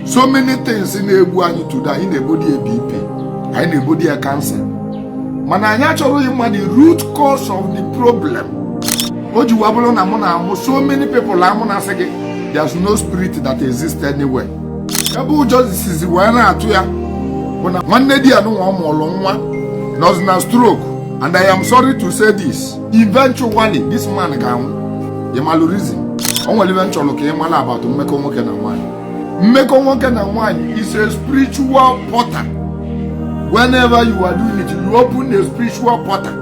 so many things na-egbu anyị today anyị na-ebodi ya BP anyị na-ebodi ya cancer mana anyị achọrọghị ịma the root cause of the problem o ji wee bụrụ na mụ na-amụ so many people amụ na-asị gị there's no spirit that exists anywhere ebe ụjọ sizi wee na-atụ ya bụ na nwanne di ya nunwa ọ mụụlụ nwa nọzi na stroke and I am sorry to say this eventually this man ga-anwụ ị malụ reason o nwere ife m chọrọ ka ị mala about mmekọ nwoke na nwaanyị mmekọ nwoke na nwaanyị is a spiritual portal whenever you are doing it you open a spiritual portal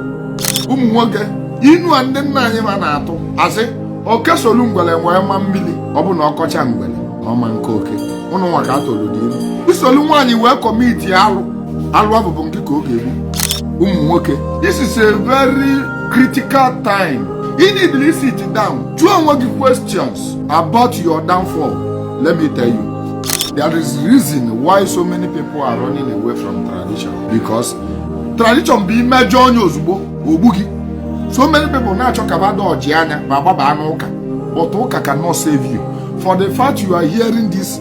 ụmụ nwoke inu a ndị nna anyị ma na-atụ asị oke solu ngwere wee maa mmiri ọ bụ na ọ kọcha ngwere ọ ma nkọ oke unu nwa ka a tụọlụdị ilu i solu nwaanyị wee commit alụ alụ a ọ bụ ngị ka ọ ga-egbu ụmụ nwoke this is a very critical time you need to sit down jụọ onwe gị questions about your downfall let me tell you there is reason why so many people are running away from tradition because tradition bụ i mejọọ nya ozugbo o gbuo gị so many people na-achọ ka bada ọjị anya ma gbaba n'ụka but ụka cannot save you for the fact you are hearing this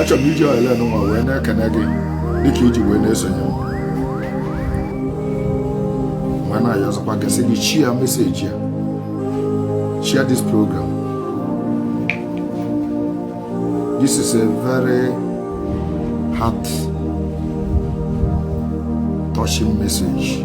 achọrọ m iji ohere nwa wee na-ekene gị dịka i ji wee na-esonye m wee na-ayọzịkwa gị sị gị share message a share this program this is a very heart touching message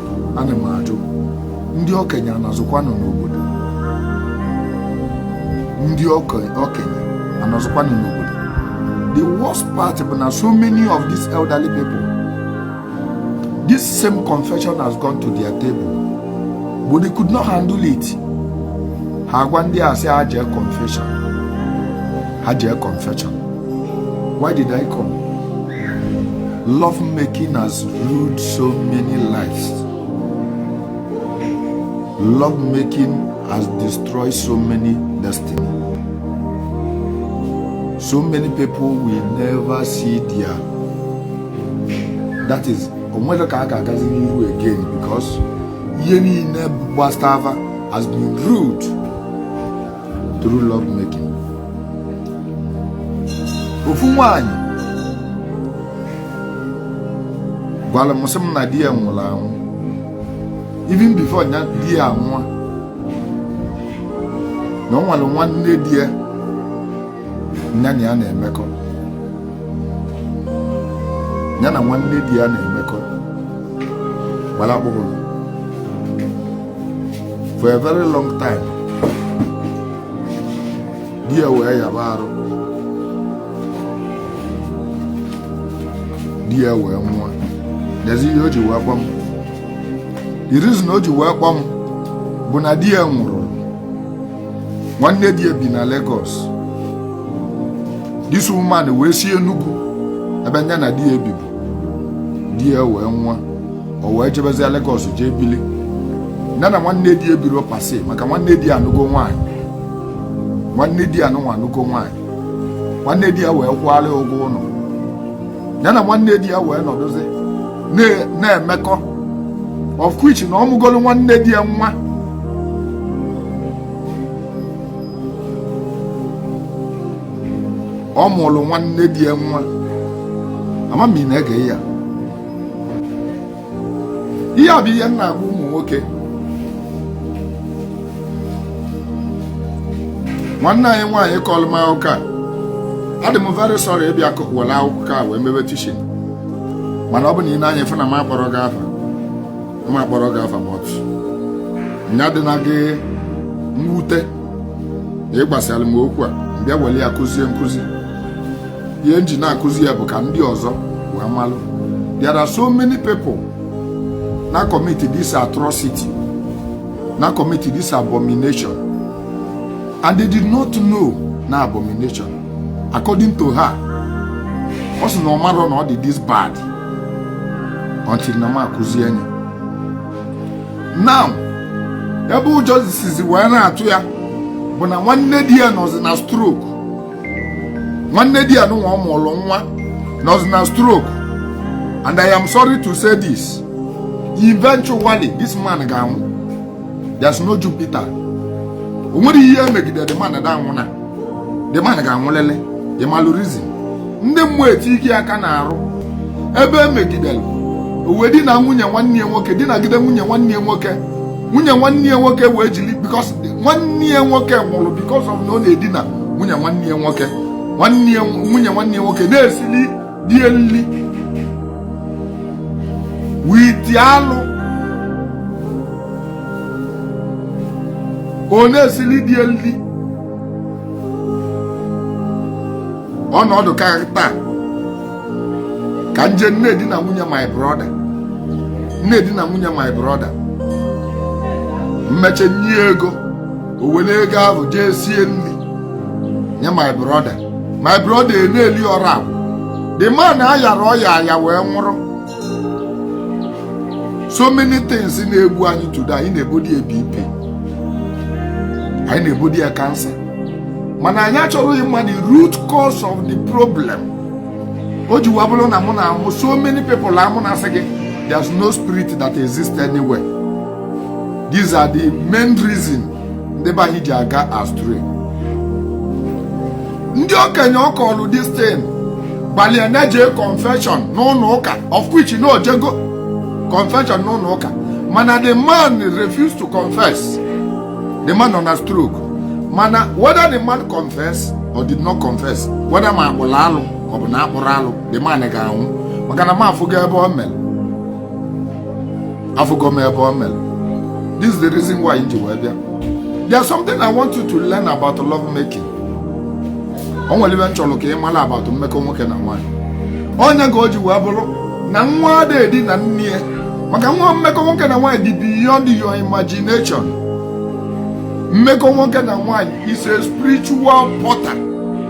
ana m ajụ ndị okenye anọzụkwanụ n'obodo ndị oke- okenye anọzụkwanụ n'obodo the worst part bụ na so many of these elderly people this same confession has gone to their table but they could not handle it ha agwa ndị a sị ha jee confession ha jee confession why did i come love making has ruined so many lives love making has destroyed so many destiny so many people will never see their that is onwere ka a ga-agazi n'ihu again because ihe niile gbasara has been rude through love making ofu nwaanyị gwara m sị m na di ya nwụrụ anwụ even before nya di ya anwụọ na o nwere nwanne di ya nya na ya na-emekọ nya na nwanne di ya na-emekọ gbara akpụrụ for a very long time di ya wee yaba arụ di ya wee nwụọ lezi ihe o ji wee kpọ m the reason o ji wee kpọ m bụ na di ya nwụrụ nwanne di ya bi na Lagos this woman wee si Enugu ebe nya na di ya ebibu di ya wee nwụọ o wee jebezie Legọs jee bili ya na nwanne di ya ebirọ per se maka nwanne di ya anụgo nwaanyị nwanne di ya nụnwa anụgo nwaanyị nwanne di ya wee kwụalị ya ụgwọ ụnọ ya na nwanne di ya wee nọdụzi na-emekọ of which na ọ mụgolu nwanne di ya nwa ọ mụlụ nwanne di ya nwa ama m ị na-ege ya ihe a bụ ihe m na-agwa ụmụ nwoke nwanne anyị nwaanyị kọlụ m akụkọ a adị m very sorry ịbịa kọ- were akụkọ a wee mebe teaching mana ọ bụ na i nee anya ị fụ na m akpọrọ gị afa m akpọrọ gị afa but nya adịna gị mwute na ị gwasịalị m okwu a m bịa were ya kụzie nkụzi ihe m ji na-akụzi ya bụ ka ndị ọzọ wee malụ there are so many people na commit this atrocity na commit this abomination and they did not know na abomination according to her ọ sị na ọ marọ na ọ dị this bad until na m akụzie nya now ebe ụjọ sizi wee na-atụ ya bụ na nwanne di ya nọzi na stroke nwanne di ya nụnwa ọ mụlụ nwa nọzi na stroke and i am sorry to say this eventually this man ga-anwụ there's no jupiter o nwerọ ihe e megide the man da anwụna the man ga-anwụlịlị ị malụ reason ndị mmụọ eti ike aka n'arụ ebe e megidere o wee dina nwunye nwanne ya nwoke dinagide nwunye nwanne ya nwoke nwunye nwanne ya nwoke wee jili because nwanne ya nwoke nwụrụ because of na ọ na-edina nwunye nwanne ya nwoke nwunye nwanne ya nwoke na-esili di ya nri with alụ ọ na-esili di ya nri ọ nọdụ ka taa ka m je na-edina nwunye my brother na-edina nwunye my brother m mechaa nye ya ego o were ego ahụ jee sie nri nye my brother my brother ana-eli ọra ahụ the man ayara ọya aya wee nwụrụ so many things na-egbu anyị today anyị na-ebodo ya bp anyị na-ebodo ya cancer mana anyị achọrọ ịma the root cause of the problem o ji wee bụrụ na mụ na-amụ so many people amụ na-asị gị there's no spirit that exists anywhere these are the main reason ndị be anyị ji aga astray ndị okenye ọ kọọlụ this thing gwalụ ya na jee confession n'ụlọ ụka of which na o jego confession n'ụlọ ụka mana the man refused to confess the man nọ na stroke mana whether the man confess or did not confess whether ma a kpụlụ alụ ọ bụ na akpụrọ alụ the man ga-anwụ maka na m afụgo ebe o mere afụgo m ebe o mere this is the reason why m ji wee bịa there's something I want you to learn about love making o nwere ife m chọrọ ka ị mara about mmekọ nwoke na nwaanyị ọ ya ka o ji wee bụrụ na nwa adịghị edina nne ya maka na mmekọ nwoke na nwaanyị dị beyond your imagination mmekọ nwoke na nwaanyị is a spiritual portal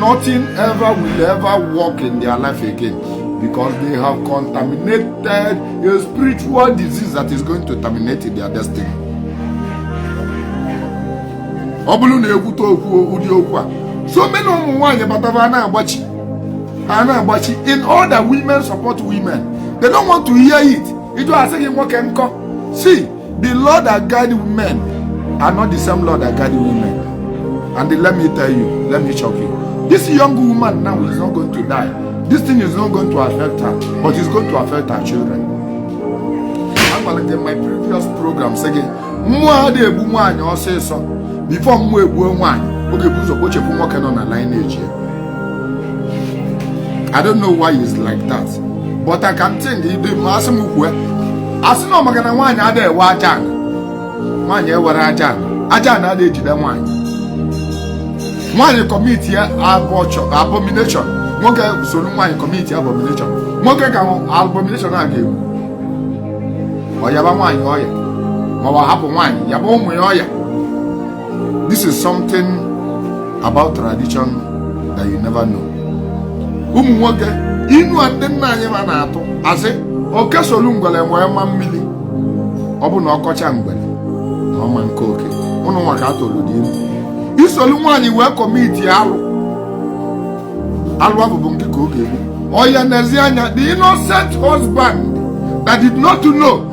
Nothing ever will ever work in their life again because they have contaminated a spiritual disease that is going to terminate their destiny. ọ bụrụ na e kwute okwu ụdị okwu a so many ụmụ nwaanyị abata fa na-agbachi a na-agbachi in all the women support women they don't want to hear it ị jụọ a sị gị nwoke nkọ see The law that guide men are not the same law that guide women. And let me tell you, let me shock you. This young woman now is not going to die. This thing is not going to affect her, but it's going to affect her children. Agwalụ m gị in my previous program sị gị, mmụọ adịghị egbu nwaanyị ọsịsọ before mmụọ egbuo nwaanyị ọ ga-ebu ụzọ kpochepụ nwoke nọ na lineage ya I don't know why it's like that but I can think ife ma asị m kwue asị na maka na nwaanyị adịghị enwe aja ana nwaanyị enwerọ aja ana aja ana adịghị ejide nwaanyị nwaanyị commit ya abomination nwoke soro nwaanyị commit abomination nwoke ka abomination a ga-egbu ọ yaba nwaanyị ọya ma ọ hapụ nwaanyị yaba ụmụ ya ọya This is something about tradition that you never know. Ụmụ nwoke inu a ndị nna anyị fa na-atụ asị oke solu ngwere wee maa mmiri ọ bụ na ọ kọcha ngwere na ọ ma akọ oke ụnụ nwa ka a tụụlụ the inu i solu nwaanyị wee commit alụ alụ ahụ bụ nwoke ka ọ ga-egbu ọ ya n'ezi anya the innocent husband that did not know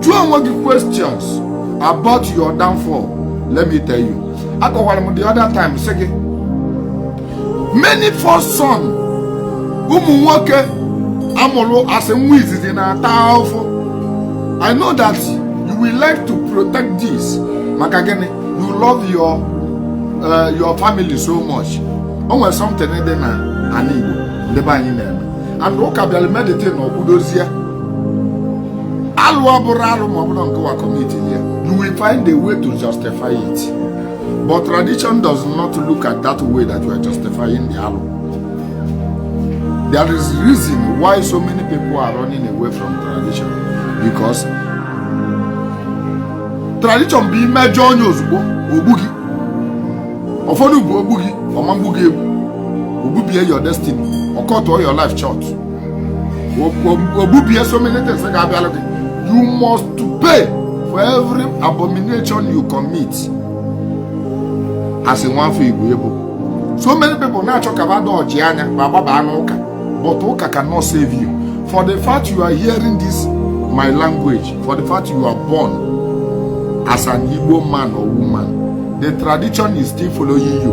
jụọ onwe gị questions about your downfall let me tell you akọwara m the other time sị gị many first son ụmụ nwoke a mụrụ as nwa izizi na-ata ahụhụ i know that you will like to protect this maka gịnị you love your uh, your family so much o nwere something dị na ala igbo ndị be anyị na-eme and ụka bịara mee that thing a ọ kwụdozie alụ ọ bụrụ alụ ma ọ bụrụ nke wa commit ya you will find a way to justify it but tradition does not look at that way that you are justifying the alụ there is reason why so many people are running away from tradition because tradition bụ i mejọọ nya ozugbo o gbuo gị ụfọdụ bụ o gbu gị ọ ma egbu gị egbu o gbubie your destiny ọ cut-ụọ your life short ogbubie so many things ga-abịalụ gị you must to pay for every abomination you commit as nwafọ igbo ebo so many people na-achọ ka bada ọchị anya ma gbaba anụ ụka but ụka cannot save you for the fact you are hearing this my language for the fact you are born as an igbo man or woman the tradition is still following you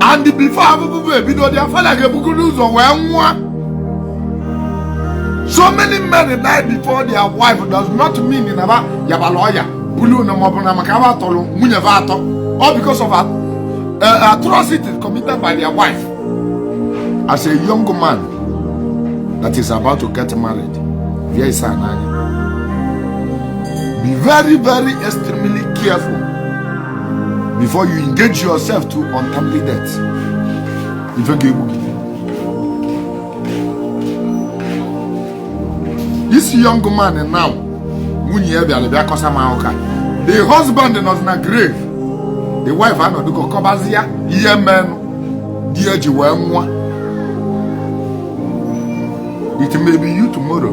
and before avụvụ ebido their father ga-ebugoro ụzọ wee nwụọ so many men die before their wife does not mean na ba yabala ọya bulu na maọbụ na maka ba tọrọ nwunye ba atọ all because of a, uh, atrocities committed by their wife as a young man that is about to get married bịa ise a n'anya be very very extremely careful before you engage yourself to untimely death ife ga-egbu this young man now nwunye ya bịara bịa kọsa m ụka the husband nọzi na grave the wife anọdụgo kọbazia ihe menụ di ya ji wee nwụọ it may be you tomorrow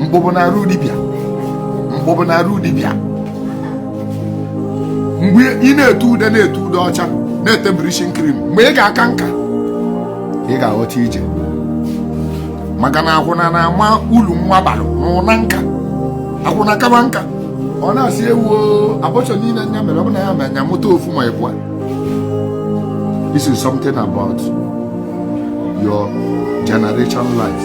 mkpụbụ na arụ dibịa mkpụbụ na arụ dibịa mgbe ị na-ete ude na-ete ude ọcha na-ete bleaching cream mgbe ị ga-aka nka ị ga-aghọta ije maka na akwụna na-ama ulu nwa bara n'ụna nka akwụna kaba nka ọ na-asị ewoo abortion niile nya mere ọ bụ na ya mere nya mụta ofu ma ịbụa this is something about your generation life